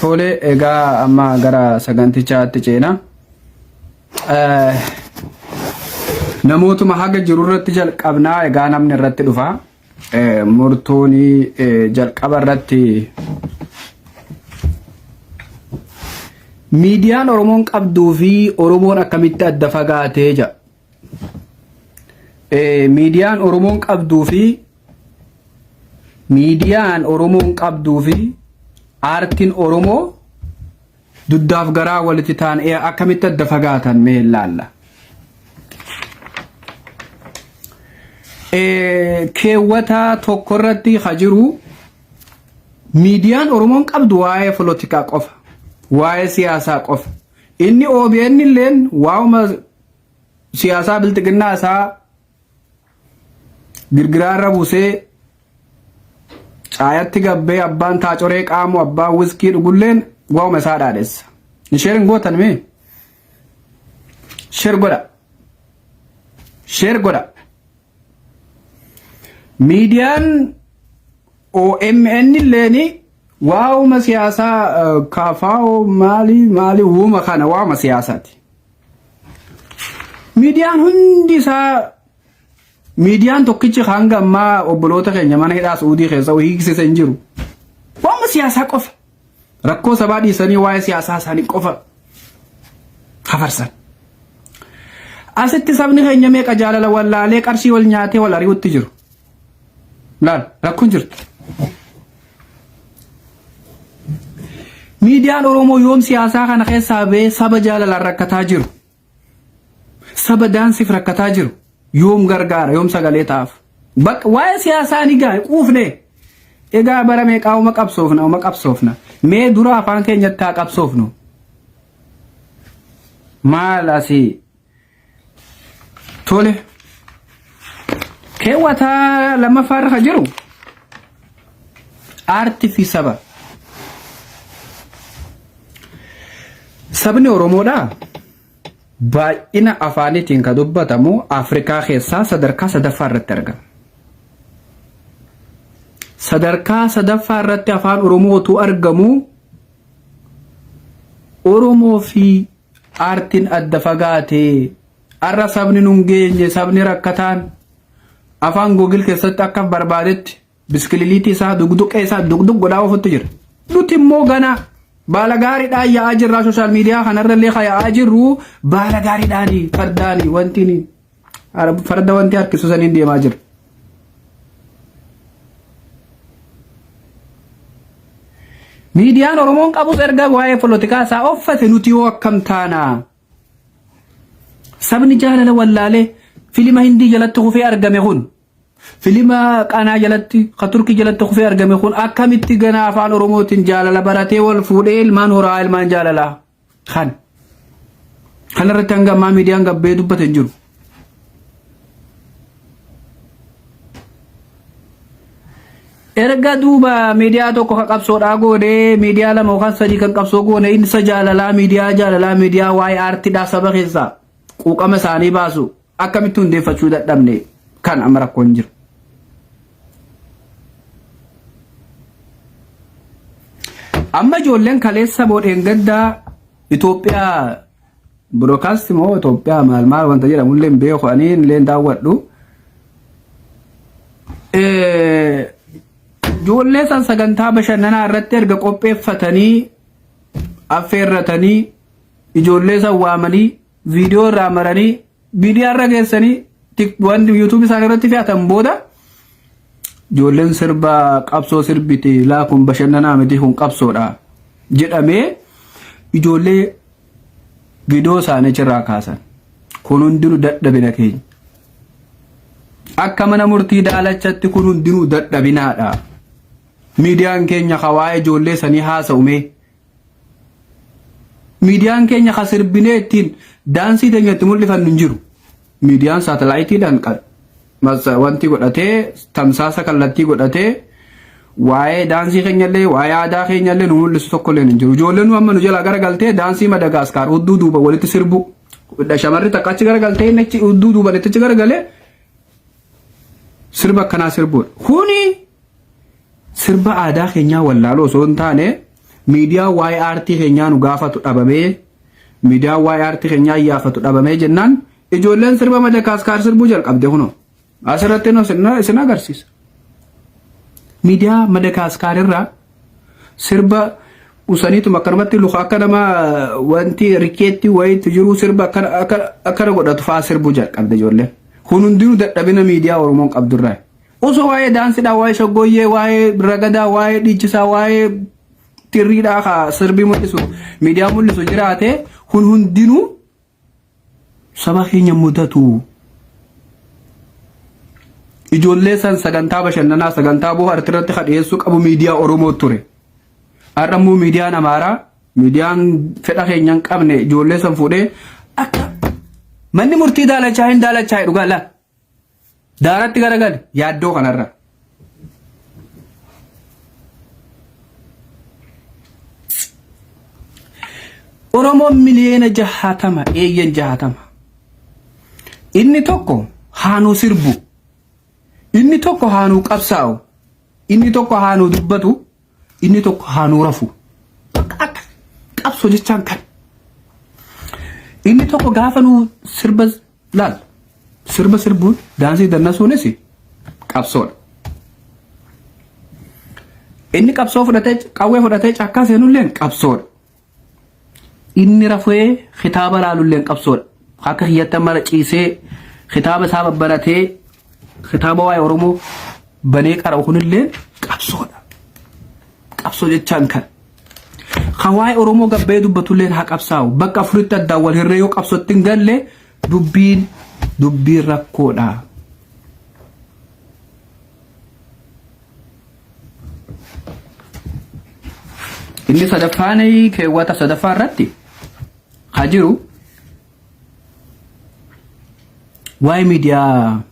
Tole egaa amma gara sagantichaatti ceena. Namootuma haga jiru irratti jalqabnaa egaa namni irratti dhufa. Murtuun jalqaba irratti miidiyaan Oromoon qabduu fi Oromoon akkamitti adda fagaatee jedha. miidiyaan Oromoon qabduu fi miidiyaan Oromoon qabduu fi aartiin Oromoo duddaaf garaa walitti ta'an akkamitti adda fagaatan mee ilaalla. Keewwata tokko irratti ha jiru miidiyaan Oromoon qabdu waa'ee polotikaa qofa, waa'ee siyaasaa qofa. Inni OBN illeen waa'uma siyaasaa bilxiginnaa isaa girgiraa irra buusee caayatti gabbee abbaan taacoree qaamu abbaan wiskii dhugulleen waa'uma isaa dhaadhessa. Isheer hin gootan mee? Sheer godha. Sheer godha. Miidiyaan OMN illeen waa'uma siyaasaa kaafaa'oo maalii maalii uuma kana waa'uma siyaasaati. Miidiyaan hundi isaa miidiyaan tokkichi hanga ammaa obboloota keenya mana hidhaa Suudii keessa hiiksise hin jiru. Waanuma siyaasaa qofa. Rakkoo sabaa dhiisanii waa'ee siyaasaa isaanii qofa hafarsan. Asitti sabni keenya meeqa jaalala wallaalee qarshii wal nyaatee wal ari'utti jiru. Laal rakkoon jirti. Miidiyaan Oromoo yoom siyaasaa kana keessaa ba'ee saba jaalalaan rakkataa jiru. Saba daansiif rakkataa jiru. Yoom gargaara yoom sagalee ta'aaf. Bakka waa'ee siyaasaa ni gaa'e quufne. Egaa bara meeqaa uma qabsoofna uma qabsoofna. Mee dura afaan keenyatti haa qabsoofnu. Maal asii Tole. Keewwata lammaffaa irra kan jiru aartii fi saba. Sabni Oromoodha baay'ina afaaniitiin kan dubbatamu Afrikaa keessaa sadarkaa sadaffaa irratti argama. Sadarkaa sadaffaa irratti afaan Oromootu argamu Oromoo fi Aartiin adda fagaate. Har'a sabni nun geenye sabni rakkataan afaan googil keessatti akka barbaadetti biskililiitii isaa dugduqee isaa dugduq godhaa ofutti jira. Nuti immoo ganaa baala gaariidhaan yaa'aa jirraa sooshaal miidiyaa kanarrallee kan yaa'aa jirru baala gaariidhaani fardaani wanti ni. Farda wanti harkisu saniin deemaa jira. Miidiyaan Oromoon qabus erga waa'ee polotikaa isaa offate nuti yoo akkam taana. Sabni jaalala wallaalee filima Hindii jalatti kufee argame kun filima qanaa jalatti ka turkii jalatti kufee argame kun akkamitti ganaa afaan Oromootiin jaalala baratee wal fuudhee ilmaan horaa ilmaan jaalalaa. Kan kana irratti hanga ammaa miidiyaan gabbee dubbate hin jiru. Erga duuba miidiyaa tokko kan qabsoodhaa goone miidiyaa lama yookaan sadii kan qabsoo goone insa jaalalaa miidiyaa jaalalaa miidiyaa waa'ee aartiidhaa saba keessaa quuqama isaanii baasu Akkamitti hundeeffachuu dadhabne kan amma rakkoon jiru. Amma ijoolleen kaleessa boodheen gaddaa Itoophiyaa broadcast moo Itoophiyaa maal maal wanta jedhamu illee beeku ani illee daawwadhu. Ijoollee san sagantaa bashannanaa irratti erga qopheeffatanii affeerratanii ijoollee san waamanii viidiyoo irraa maranii miidiyaa irra geessanii tik- wanti yuutuubii isaanii irratti fe'atan booda ijoolleen sirba qabsoo sirbiti laa kun bashannanaa miti kun qabsoodha jedhamee ijoollee viidiyoo isaanii achirraa kaasan kun hundinuu dadhabina keenya akka mana murtii daalachatti kun hundinuu dadhabinaadha miidiyaan keenya hawaa'ee ijoollee sanii haasa'ume Miidiyaan keenya kan sirbinee ittiin daansii teenya itti mul'ifannu hin jiru. Miidiyaan saatalaayitiidhaan qal- mas- wanti godhatee tamsaasa kallattii godhatee waa'ee daansii keenyallee waa'ee aadaa keenyallee nu mul'isu tokkollee hin jiru. Ijoolleen nu amma nu jalaa garagaltee daansii Madagaskaar hudduu duuba walitti sirbu. Shamarri takka achi garagaltee inni achi hudduu duuba itti achi garagalee sirba akkanaa sirbuudha. Kuni Sirba aadaa keenyaa wallaaluu osoo hin taane miidiyaan waa'ee aartii keenyaa nu gaafatu dhabamee miidiyaan waa'ee aartii keenyaa iyyaafatu dhabamee jennaan ijoolleen sirba Madakaaskaar sirbuu jalqabde kunoo asirratti nu isin- isin agarsiisa. Miidiyaa Madakaaskaar irraa sirba usaniitum akkanumatti luka akka nama wanti rikeetti wayiitti jiru sirba akkana akkana- akkana godhatu fa'aa sirbuu jalqabde ijoolleen. Kun hundinuu dadhabina miidiyaa Oromoon qabdurraa. Osoo waa'ee daansidhaa, waa'ee shaggooyyee, waa'ee ragadaa, waa'ee dhiichisaa, waa'ee xirriidhaa ka sirbii mul'isu, miidiyaa mul'isu jiraate kun hundinuu saba keenya mudatu. Ijoollee san sagantaa bashannanaa, sagantaa bohaartii irratti ka dhiyeessuu qabu miidiyaa Oromoo ture. Har'a immoo miidiyaan Amaaraa, miidiyaan fedha keenya hin qabne ijoollee san fuudhee akka manni murtii daalachaa hin daalachaa dhugaa laa Daaratti garagali yaaddoo kanarra. Oromoon miliyoona jahatama eeyyan jahatama. Inni tokko haanuu sirbu. Inni tokko haanuu qabsaa'u. Inni tokko haanuu dubbatu. Inni tokko haa nuu rafu. Bakka akka qabsoo jechaan kan. Inni tokko gaafa nuu sirba laal. Sirba sirbuun daansii dannasuunis qabsoodha. Inni qabsoo fudhatee qawwee fudhatee cakkaa seenulleen qabsoodha. Inni rafee kitaaba laalulleen qabsoodha. Akka kiyyatti amma irra ciisee kitaaba isaa babbaratee kitaaba waa'ee Oromoo banee qara'u kunillee qabsoodha. Qabsoo jechaan kan. Kan waa'ee Oromoo gabbee dubbatulleen haa qabsaa'u. Bakka afuritti addaan wal hirree yoo qabsootti hin galle dubbiin dubbiin rakkoodha. Inni sadaffaan keewwata sadaffaa irratti haa jiru waa'ee miidiyaa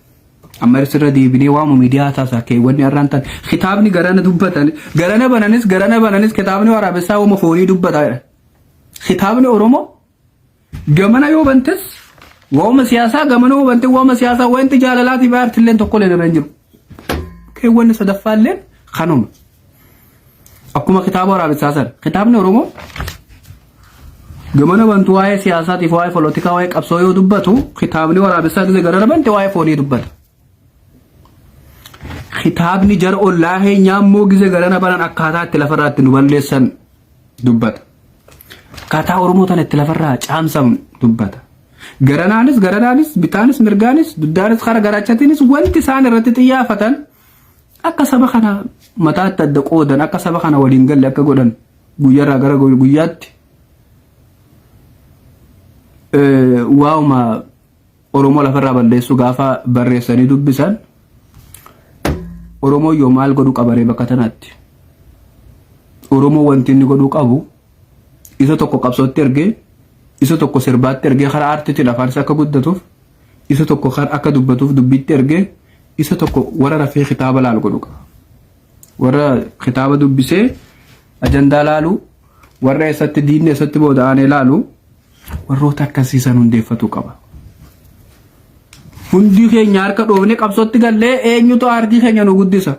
amma irra deebinee waa'uma miidiyaa haasaa keewwanni har'aan tan kitaabni garana dubbatan garana bananis garana bananis kitaabni waraabessaa waa'uma foonii dubbata kitaabni Oromoo Gamana yoo bantes waa'uma siyaasaa gamana yoo bante waa'uma siyaasaa wanti jaalalaatiif aartilleen tokkolleen irra hin jiru. Keewwanni sadaffaalleen kanuma. Akkuma kitaaba waraabessaa sana kitaabni Oromoo gamana bantu waa'ee siyaasaatiif waa'ee polotikaa waa'ee qabsoo yoo dubbatu kitaabni waraabessaa gise gara bante waa'ee foonii dubbata. Kitaabni jara ollaa keenyaa immoo gize galana banan akkaataa itti lafarraa itti nu balleessan dubbata. Akkaataa Oromoo tana itti lafarraa caamsan dubbata. Garanaanis garanaanis bitaanis mirgaanis duddaanis kara garaachatiinis wanti isaan irratti xiyyaafatan akka saba kana mataatti adda qoodan akka saba kana waliin galle akka godhan guyyaarraa gara guyyaatti waa'uma Oromoo lafarraa balleessuu gaafa barreessanii dubbisan Oromoo yoo maal godhu qabaree bakka tanaatti. Oromoo wanti inni godhuu qabu isa tokko qabsootti ergee isa tokko sirbaatti ergee karaa aartiitiin afaan isaa akka guddatuuf isa tokko kan akka dubbatuuf dubbiitti ergee isa tokko warra rafee kitaaba laalu godhu qaba. Warra kitaaba dubbisee ajandaa laalu warra eessatti diinni eessatti booda aanee laalu warroota akkasii san hundeeffatu qaba. Hundi keenya harka dhoofne qabsootti gallee eenyutu aardii keenya nu guddisa.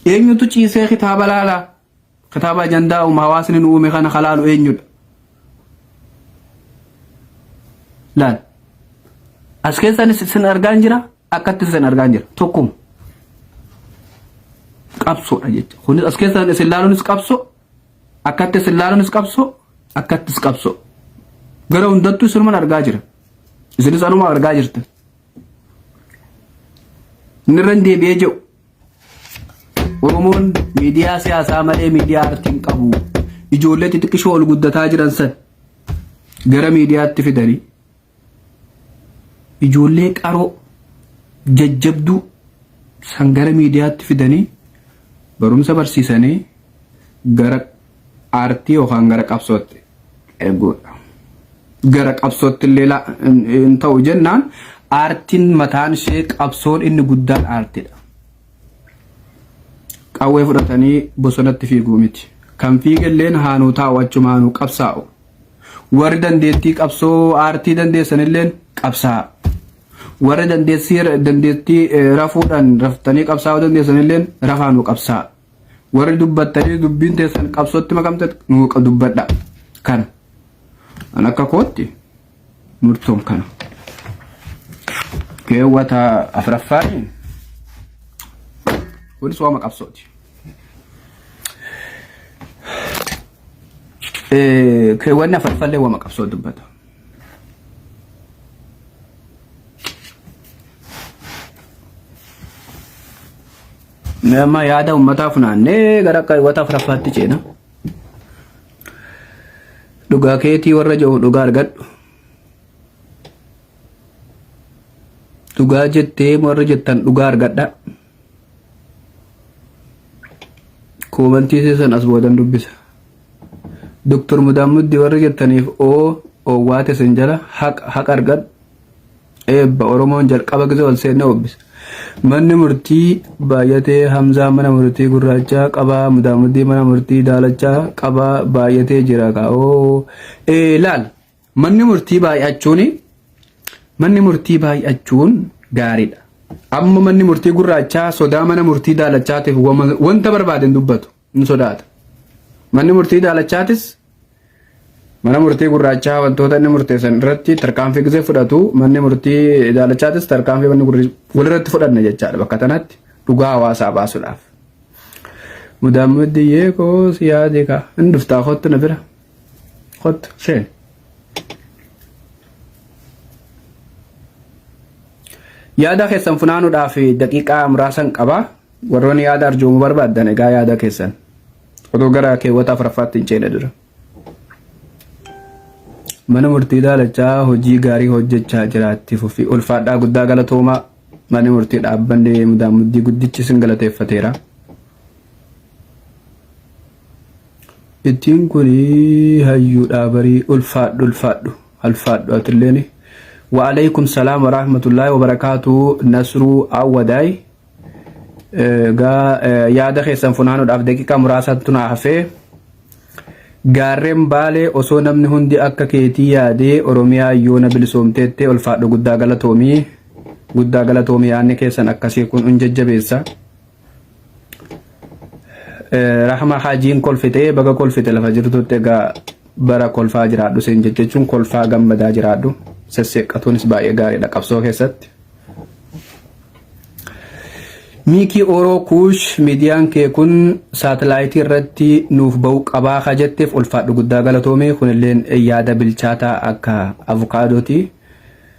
Eenyutu ciisee kitaaba laala. Kitaaba ajandaa uumaa hawaasni nu uume kana halaalu eenyudha. Laal. As keessaanis isin argaan jira akkatti isin argaan jira tokkuma. Qabsoodha jecha. Kunis as keessaan isin laaluunis qabsoo Akkatti isin laalunis qabsoo akkattis qabsoo. Gara hundattuu isinuman argaa jira. Isinis anuma argaa jirta. Inni irra hin deebi'ee jiru. Oromoon miidiyaa siyaasaa malee miidiyaa artii hin qabu. Ijoollee xixiqqishoo ol guddataa jiran san gara miidiyaatti fidanii Ijoollee qaroo, jajjabduu san gara miidiyaatti fidanii barumsa barsiisanii gara aartii yookaan gara qabsootti erguudha. Gara qabsootti illee la- hin- hin ta'u jennaan aartiin mataan ishee qabsoon inni guddaan aartiidha. Qawwee fudhatanii bosonatti fiiguu miti. Kan fiigelleen haanuu taa'u achumaanuu qabsaa'u. Warri dandeettii qabsoo aartii dandeessan illeen qabsaa. Warri dandeettii dandeettii eh, rafuudhaan raftanii qabsaa'uu dandeessan illeen rafaa nu qabsaa. Warri dubbattanii dubbiin teessan qabsootti makamte nu qa- dubbadha. Kana. An akka kootti murtoon kana. Keewwata afraffaaniin kunis waama qabsooti. Keewwanni afurfallee wama qabsoo dubbata. Nama yaada uummataa funaannee gara keewwata afuraffaatti ceena. Dhugaa keetii warra jiru dhugaa argadhu. Dhugaa jettee warra jettan dhugaa argadha. Koomantii keessan as boodan dubbisa. Doktor Mudaan Muddi warri jettaniif oo owwaa tesin jala haqa haqa argadhu. Eebba Oromoon jalqaba gisa wal seenne obbisa. Manni murtii baay'atee Hamzaa mana murtii gurraachaa qabaa Mudaan Muddii mana murtii daalachaa qabaa baay'atee jira kaa oo ee laal Manni murtii baay'achuun manni murtii baay'achuun gaariidha. Amma manni murtii gurraachaa sodaa mana murtii daalachaatiif wama- wanta barbaade hin dubbatu hin sodaata. Manni murtii daalachaatis mana murtii gurraachaa wantoota inni murteessan irratti tarkaanfii gisee fudhatu manni murtii daalachaatis tarkaanfii manni gurri- walirratti fudhanna jechaadha bakka tanatti dhugaa hawaasaa baasuudhaaf. Mudaammaddiyyee koo si yaade kaa hin dhuftaa kottu na bira. Kottu seen. Yaada keessan funaanuudhaaf daqiiqaa muraasan qaba. Warroonni yaada arjoomuu barbaadan egaa yaada keessan. Otoo gara keewwata afuraffaatti hin ceene dura. Mana murtii daalachaa hojii gaarii hojjechaa jiraatti fufi. Ulfaadhaa guddaa galatoomaa. Manni murtii dhaabbanni mudaamuddii guddichi isin galateeffateera. Ittiin kun hayyuudhaa barii ulfaadhu ulfaadhu ulfaadhu atilleen. Wa'aleekum salaam wa rahmatullaahi wa barakaatuu Nasruu Awwadaay. Egaa yaada keessan funaanuudhaaf daqiiqaa muraasaatu naa hafee. Gaarreen baalee osoo namni hundi akka keetii yaadee Oromiyaa yoona bilisoomteettee ulfaadhu guddaa galatoomii. Guddaa galatoomii yaadni keessan akkasii kun hin jajjabeessa. Rahma Hajiin kolfitee baga kolfite lafa jirtutti egaa bara kolfaa jiraadhu siin jechuun kolfaa gammadaa jiraadhu sesseeqqatuunis baay'ee gaariidha qabsoo keessatti. Miikii Oroo Kuush miidiyaan kee kun saatalaayitii irratti nuuf ba'uu qabaa ka jetteef ulfaadhu guddaa galatoomee kunilleen yaada bilchaataa akka avukaadootii.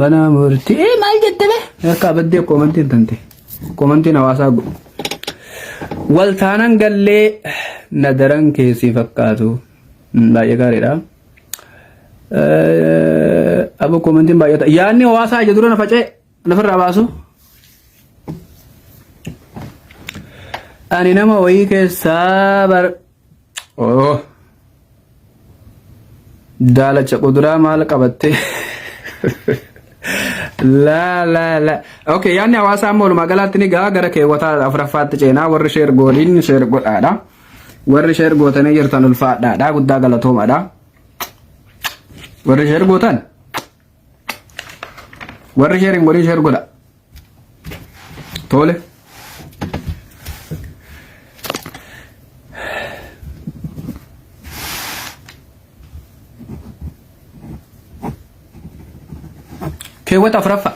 Mana murtii ee maal jette bee? Harkaa baddee koomantiin tante. Koomantiin hawaasaa godhu. Wal taanan gallee na daran keessii fakkaatu. Mm, Baay'ee gaariidha. Eh, Aboo koomantiin baay'ata. Yaadni hawaasaa ija dura na faca'e. Nafirraa baasu. Ani nama wayii keessaa bar. Oh. Daalacha quduraa maal qabatte? La la la. Okay, yaadni hawaasaa amma walumaa galaatti ni gahaa gara keewwataa afuraffaatti ceenaa warri sheer gooliin sheer godhaadha. Warri sheer gootanii jirtan ulfaadhaadha guddaa galatoomaadha. Warri sheer gootan. Warri sheer hin godhin sheer godha. Tole. Keewwata afuraffaa.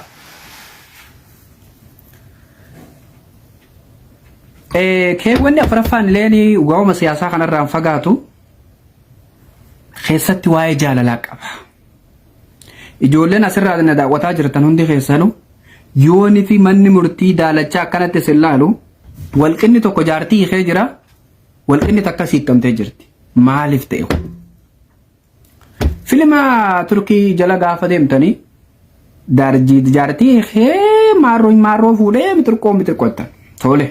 Eh, Keewwanni afuraffaan illee waa'uma siyaasaa kanarraan fagaatu keessatti waa'ee jaalalaa qaba. Ijoolleen asirraa na daawwataa jirtan hundi keessanu yooni fi manni murtii daalachaa akkanatti isin laalu walqinni tokko jaartii hiikee jira walqinni takka siikkamtee jirti maaliif ta'e kun? Filima Turkii jala gaafa deemtanii daarjii jaartii hiikee maarroo maarroo fuudhee mitirqoo mitirqottan tole.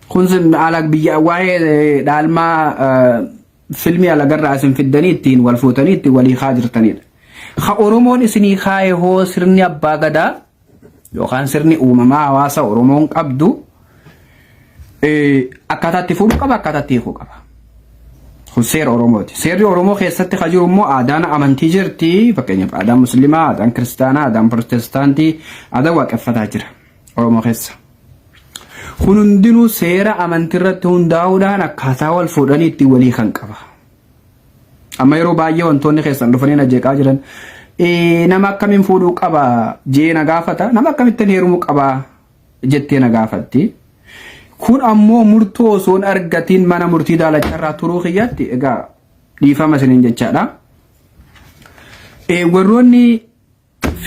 Kun sun haala biyya waa'ee dhaalmaa filmii alagarraa isin fiddanii ittiin wal fuutanii ittiin walii kaa jirtanidha. Ka Oromoon isinii kaaye hoo sirni abbaa gadaa yookaan sirni uumamaa hawaasa Oromoon qabdu akkaataa itti fuudhu qaba akkaataa itti hiikuu qaba. Kun seera Oromooti. Seerri Oromoo keessatti kan jiru immoo aadaan amantii jirti. Fakkeenyaaf aadaan musliimaa, aadaan kiristaanaa, aadaan pirootestaantii, aadaan waaqeffataa jira Oromoo keessa. Kun hundinuu seera amantii irratti hundaa'uudhaan akkaataa wal fuudhanii ittiin walii kan qaba. Amma yeroo baay'ee wantoonni keessan dhufanii na jeeqaa jiran "Ee, nama akkamiin fuudhuu qaba jee na gaafata nama akkamittiin heerumuu qaba jettee na gaafatti. Kun ammoo murtoo osoo hin argatiin mana murtii daalacha irraa turuu kiyyaatti egaa dhiifama isiniin jechaadha. Ee, warroonni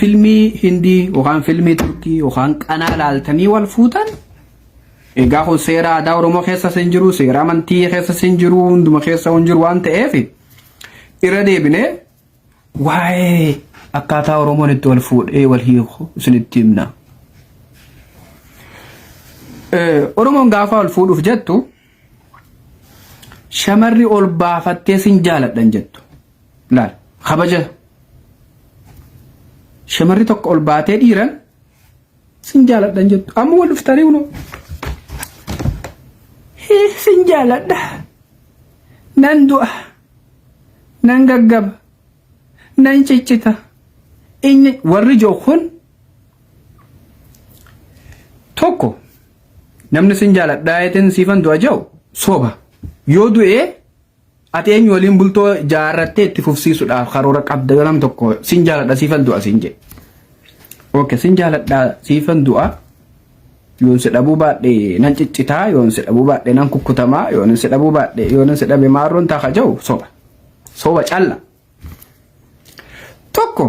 Filmii Hindii yookaan filmii Turkii yookaan qanaa laaltanii wal fuutan egaa kun seera aadaa Oromoo keessas hin jiru, seera amantii keessas hin jiru, hunduma keessa hin jiru waan ta'eef irra deebinee waa'ee akkaataa Oromoon itti wal fuudhee wal hiiku isinitti himna. Eh, Oromoon gaafa wal fuudhuuf jettu shamarri ol baafattee sin jaaladhan jettu. Laal kabaja shamarri tokko ol baatee dhiiran sin jaaladhan jettu amma wal dhuftanii kunoo Hii, sin jaaladha nan du'a nan gaggaba nan ciccita inni warri joo kun tokko namni sin jaaladhaa jeteen siifan du'a jau soba yoo du'ee Ati eenyu waliin bultoo jaarrattee itti fufsiisuudhaaf karoora qabda yoo nam tokko sin jaaladha siifan du'a sin jedhe. Ok sin jaaladha siifan du'a yoon si dhabuu baadhe nan ciccitaa yoon si dhabuu baadhe nan kukkutamaa yoon si dhabuu baadhe yoon si dhabe maarroon taaka ja'u soba. Soba calla. Tokko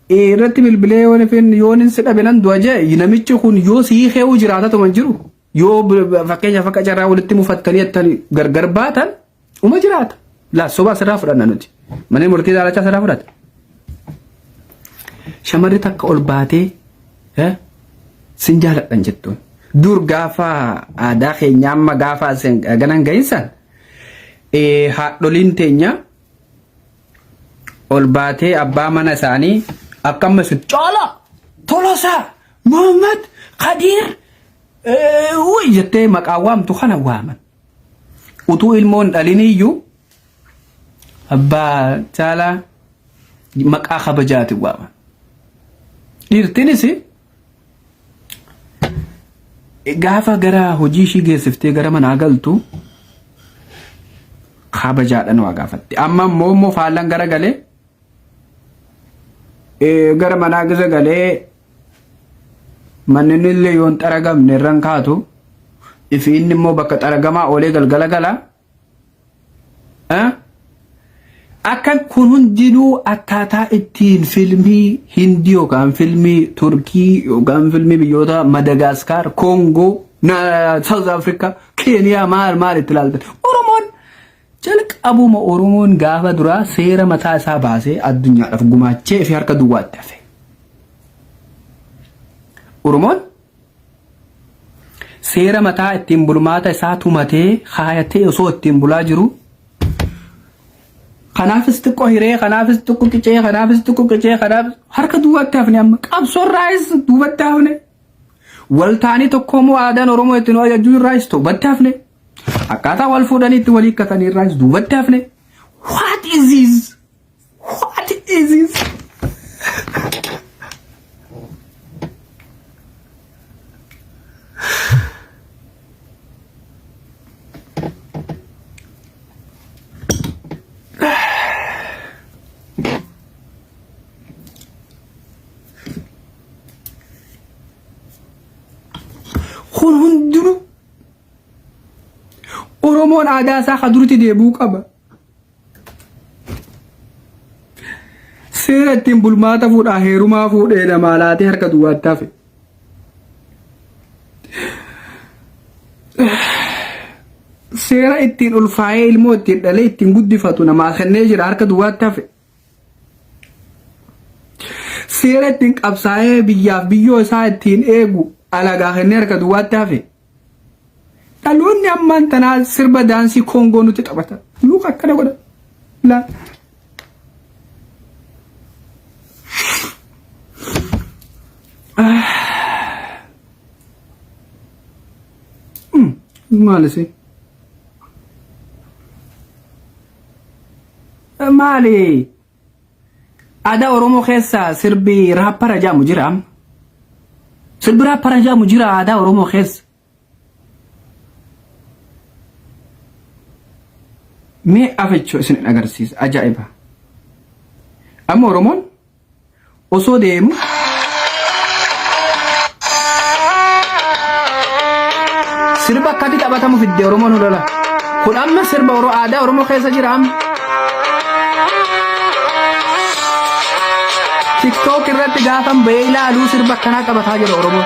irratti bilbilee yoon ifin yoon si dhabe nan du'a ja'e namichi kun yoo si hiikeewu jiraatatu man jiru. Yoo fakkeenyaaf akka carraa walitti mufattanii attan gargar baatan uma jiraata. Laa soba asirraa fudhanna nuti. Manni murtii daalachaa asirraa fudhata. Shamarri takka ol baatee sin jaaladhan jettuun. Dur gaafa aadaa keenya amma gaafa ganan gahinsan haadholiin teenya ol baatee abbaa mana isaanii akka amma isin caalaa tolosaa Mohammad Kadiir uuy jettee maqaa waamtu kana waaman. Utuu ilmoon dhaliniyyuu abbaa caalaa maqaa kabajaatiin waaman. Dhiirtinis gaafa gara hojii ishii geessiftee gara manaa galtu kabajaadhaan waa gaafatti. Amma immoo immoo faallan gara galee gara manaa gisa galee Manni illee yoon xaragamne irran kaatu ifi inni immoo bakka xaragamaa oolee galgala gala. Akka kun hundinuu akkaataa ittiin filmii Hindi yookaan filmii Turkii yookaan filmii biyyoota Madagaaskaar, Koongoo, Saawuz Afrikaa, Keeniyaa maal maal itti ilaaltan. Oromoon Jalqabuma Oromoon gaafa duraa seera mataa isaa baasee addunyaadhaaf gumaachee fi harka duwwaatti hafe. Oromoon seera mataa ittiin bulmaata isaa tumatee kaayatee osoo ittiin bulaa jiru kanaafis xiqqoo hiree kanaafis xiqqoo qicee kanaafis xiqqoo qicee kanaaf harka duwwaatti hafne amma qabsoorraayis duubatti hafne waltaanii tokkoomoo aadaan Oromoo ittiin hojjechuu irraayis duubatti hafne. Akkaataa wal fuudhanii itti walii hikkatan irraas duubatti hafne. What is this? What is this? Oromoon aadaa isaa ka duritti deebi'uu qaba. Seera ittiin bulmaata fuudhaa heerumaa fuudhee namaa laatee harka duwwaatti hafe. Seera ittiin ulfaa'ee ilmoo ittiin dhalee ittiin guddifatu namaa kennee jira harka duwwaatti hafe. Seera ittiin qabsaa'ee biyyaaf biyyoo isaa ittiin eegu alagaa kennee harka duwwaatti hafe. Dhaloonni ammaan tanaa sirba daansii koongoo nutti taphata. Luka akkana godha. Laa. Maal isin? Maali? Aadaa Oromoo keessa sirbi raappara jedhamu jira. Sirbi raappara jedhamu jira aadaa Oromoo keessa. Mee afechoo isin agarsiisa ajaa'iba. Amma Oromoon Osoo deemu. Sirba akkatti taphatamu fidde Oromoon holola. Kun amma sirba Oro aadaa Oromoo keessa jira amma. TikTok irratti gaafan bahee ilaaluu sirba akkanaa taphataa jira Oromoo.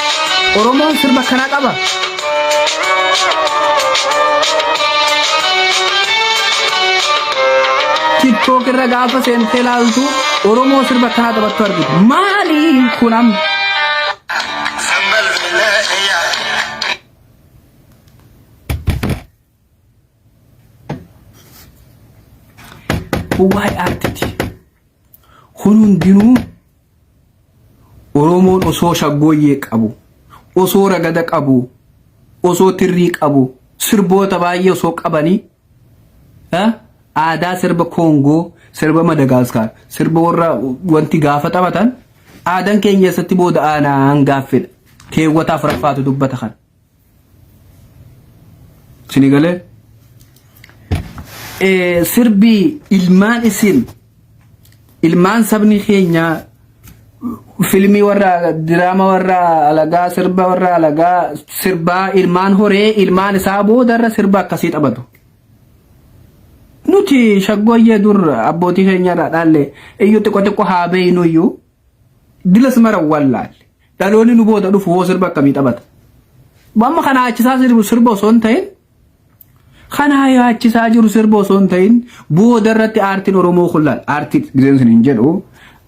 Oromoon sirba kanaa qaba. TikTok irra gaafa seentee laaltu Oromoo sirba kanaa taphattu argita. Maali kun amma? Kun waa'ee aartiiti. Kun hundinuu Oromoon osoo shaggooyyee qabu, osoo ragada qabu, osoo tirrii qabu, sirboota baay'ee osoo qabanii eh, aadaa sirba Koongoo, sirba Madagaaskaar, sirba warra wanti gaafa taphatan aadaan keenya eessatti booda aanaa hangaaffedha. Keewwata afuraffaatu dubbata kana. Sini galee Eh, sirbi ilmaan isin ilmaan sabni keenya filmii warra diraama warra alagaa sirba warra alagaa sirbaa ilmaan horee ilmaan isaa boodarra sirba akkasii taphatu. Nuti shaggooyyee dur abbootii keenyarraa dhaalle iyyuu xiqqo xiqqo haa beeynu iyyuu Dilas mara wallaalle. Dhaloonni nu booda dhufu hoo sirba akkamii taphata? Amma kana achisaa sirbu sirba osoo hin ta'in kanaa yaachisaa jiru sirba osoo hin ta'in booda irratti aartiin Oromoo kun laal aartii gizeen sun hin jedhu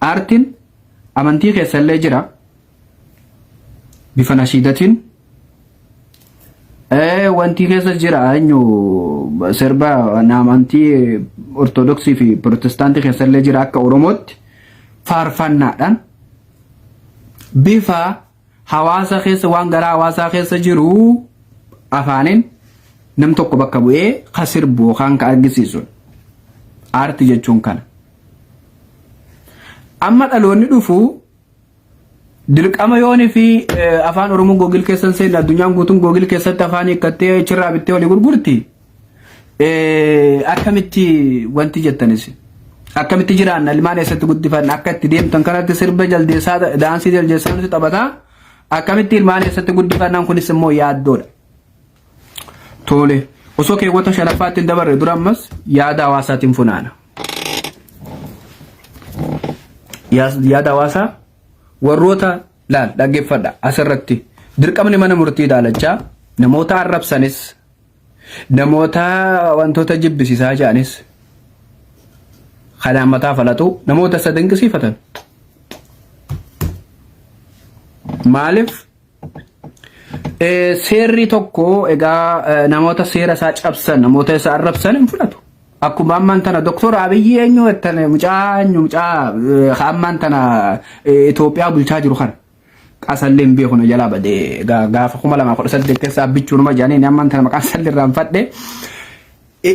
aartiin amantii keessa illee jira bifa nashiidatiin Ee wanti keessa jira eenyu sirba naamantii ortodoksii fi pirootestaantii keessa illee jira akka oromootti faarfannaadhaan bifa hawaasa keessa waan garaa hawaasaa keessa jiru afaaniin nam tokko bakka bu'ee ka sirbu yookaan ka argisiisu aartii jechuun kana. Amma dhaloonni dhufu Dirqama yoon fi afaan Oromoo googil keessan seenna addunyaan guutuun googil keessatti afaan hiikkattee achirraa bittee olii gurgurti. Akkamitti wanti jettanis akkamitti jiraanna ilmaan eessatti guddifanna akka itti deemtan kanatti sirba jaldeessaa daansii jaldeessaa nuti taphataa akkamitti ilmaan eessatti guddifannaan kunis immoo yaaddoodha. Tole. Osoo keewwata shanaffaatti hin dabarre dura ammas yaada hawaasaatiin funaana. Yaas- Yaada hawaasaa warroota laal dhaggeeffadha asirratti dirqamni mana murtii ilaalachaa namoota arrabsanis namoota wantoota jibbisiisaa ja'anis kanaan mataa falatu namoota isa dinqisiifatan. Maaliif Seerri tokko egaa namoota seera isaa cabsan namoota isaa arrabsan hin fudhatu. Akkuma ammaan tana doktor Abiyyi eenyu jettan mucaa eenyu mucaa ammaan tana Itoophiyaa bulchaa jiru kana. Qasallee hin beeku na jalaa badee gaafa kuma lamaa kudha saddeet keessaa bichuunuma jedhanii ammaan tana maqaan salli irraan fadhe.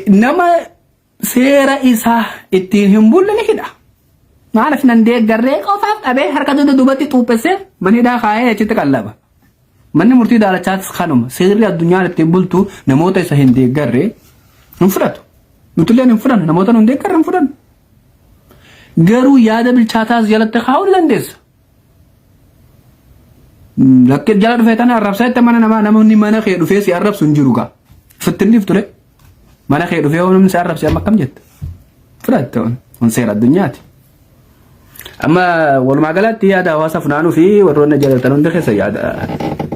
Nama seera isaa ittiin hin bulle ni hidha. Maaliif nan deeggarree qofaaf dhabee harka dugda duubatti xuuphessee mana hidhaa kaa'ee achitti qallaba. Manni murtii daalachaatis kanuma seerri addunyaan ittiin bultu namoota isa hin deeggarre hin fudhatu. Nutilleen hin fudhannu namoota nu hin deeggarre hin fudhannu. Garuu yaada bilchaataas jalatti kaa'uu ni dandeessa. Lakkee jala dhufee tana arrabsaa itti mana namaa namni mana kee dhufee si arrabsu hin jiru gaa. Fittinniif ture. Mana kee dhufee yoo namni si arrabse amma akkam jetta? Fudhatte on on seera addunyaati. Amma walumaa galatti yaada hawaasa funaanuu fi warroonni jaalatan hundi keessa yaada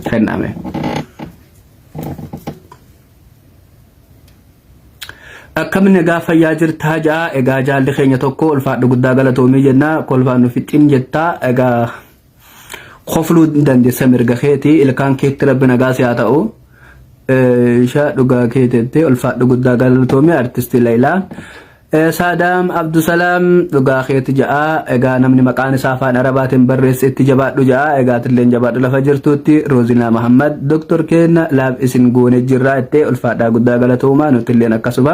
kenname. Akkam nagaa fayyaa jirtaa ja'a egaa jaalli keenya tokko ulfaadhu guddaa galatoomii jenna kolfaan nu fixxin jettaa egaa kofluu dandeessa mirga keeti ilkaan keetti rabbi nagaa si haa ta'u. Ishaa dhugaa keetettee ulfaadhu guddaa galatoomii artistii Layilaa. Saadaam Abdusalaam dhugaa keeti ja'a egaa namni maqaan isaa afaan arabaatiin barreesse itti jabaadhu ja'a egaa atilleen jabaadhu lafa jirtuutti Roozinaa Mahammad Doktor Keenna laaf isin goone jirraa ittee ulfaadhaa guddaa galatoomaa nutilleen akkasuma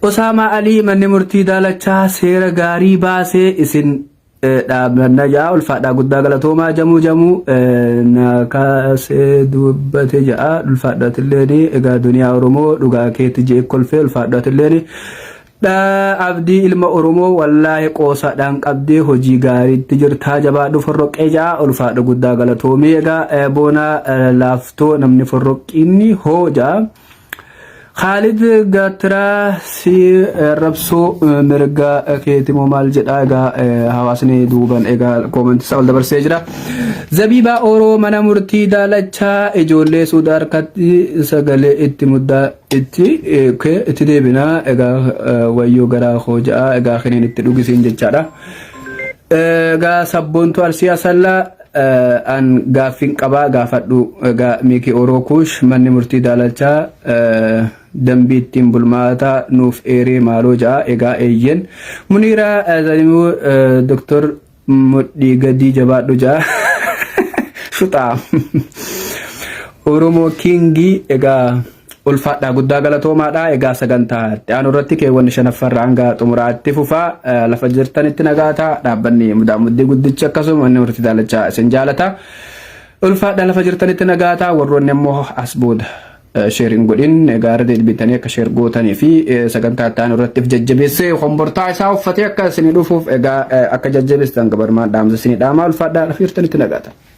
Osaamaa Alii manni murtii daalachaa seera gaarii baasee isin Najaa ulfaadhaa guddaa galatoomaa jamuu jamuu na kaasee dubbate ja'a ulfaadhaa tilleeni egaa duniyaa oromoo dhugaa keetti jee kolfee ulfaadhaa tilleeni abdii ilma oromoo wallaahi qoosaadhaan qabdee hojii gaariitti jirtaa jabaadhu forroqqee ja'a ulfaadha guddaa galatoomii egaa boonaa laaftoo namni forroqqiinni hoo ja'a. Khaalid Gaattiraa si rabsuu mirga keetimoo maal jedhaa egaa hawaasni duuban egaa koomantii isaa ol dabarsee jira. Zabiibaa Oroo mana murtii daalachaa ijoollee suuda harkatti sagalee itti muddaa itti itti deebinaa egaa wayyoo garaa koo ja'a egaa kiniin itti dhugisiin jechaadha. Egaa sabboontu arsii asallaa An gaaffiin qabaa gaafadhu egaa Miiki Oroo Kuush manni murtii daalalchaa dambii ittiin bulmaataa nuuf eeree maaloo ja'a egaa eeyyen Muniiraa Zalimuu Doktor Mudhii Gadii jabaadhu ja'a shuxaa Oromoo Kiingii egaa Ulfaadhaa guddaa galatoomaadha. Egaa sagantaa itti aanu irratti keewwanni shanaffaa irraa hanga xumuraa itti fufaa. Eh, Lafa jirtanitti nagaa ta'a. Dhaabbanni mudaa muddii guddichi akkasuma manni murtii daalachaa isin jaalata. Ulfaadhaa lafa jirtanitti nagaa ta'a. Warroonni ammoo as booda eh, sheer hin godhin. Egaa irra deebiitanii akka sheer gootanii fi eh, sagantaa itti aanu irratti if jajjabeessee hombortaa isaa uffatee akka isinii dhufuuf egaa eh, akka jajjabeessitan gabarumaan dhaamsa isinii dhaamaa. Ulfaadhaa lafa jirtanitti nagaa ta'a.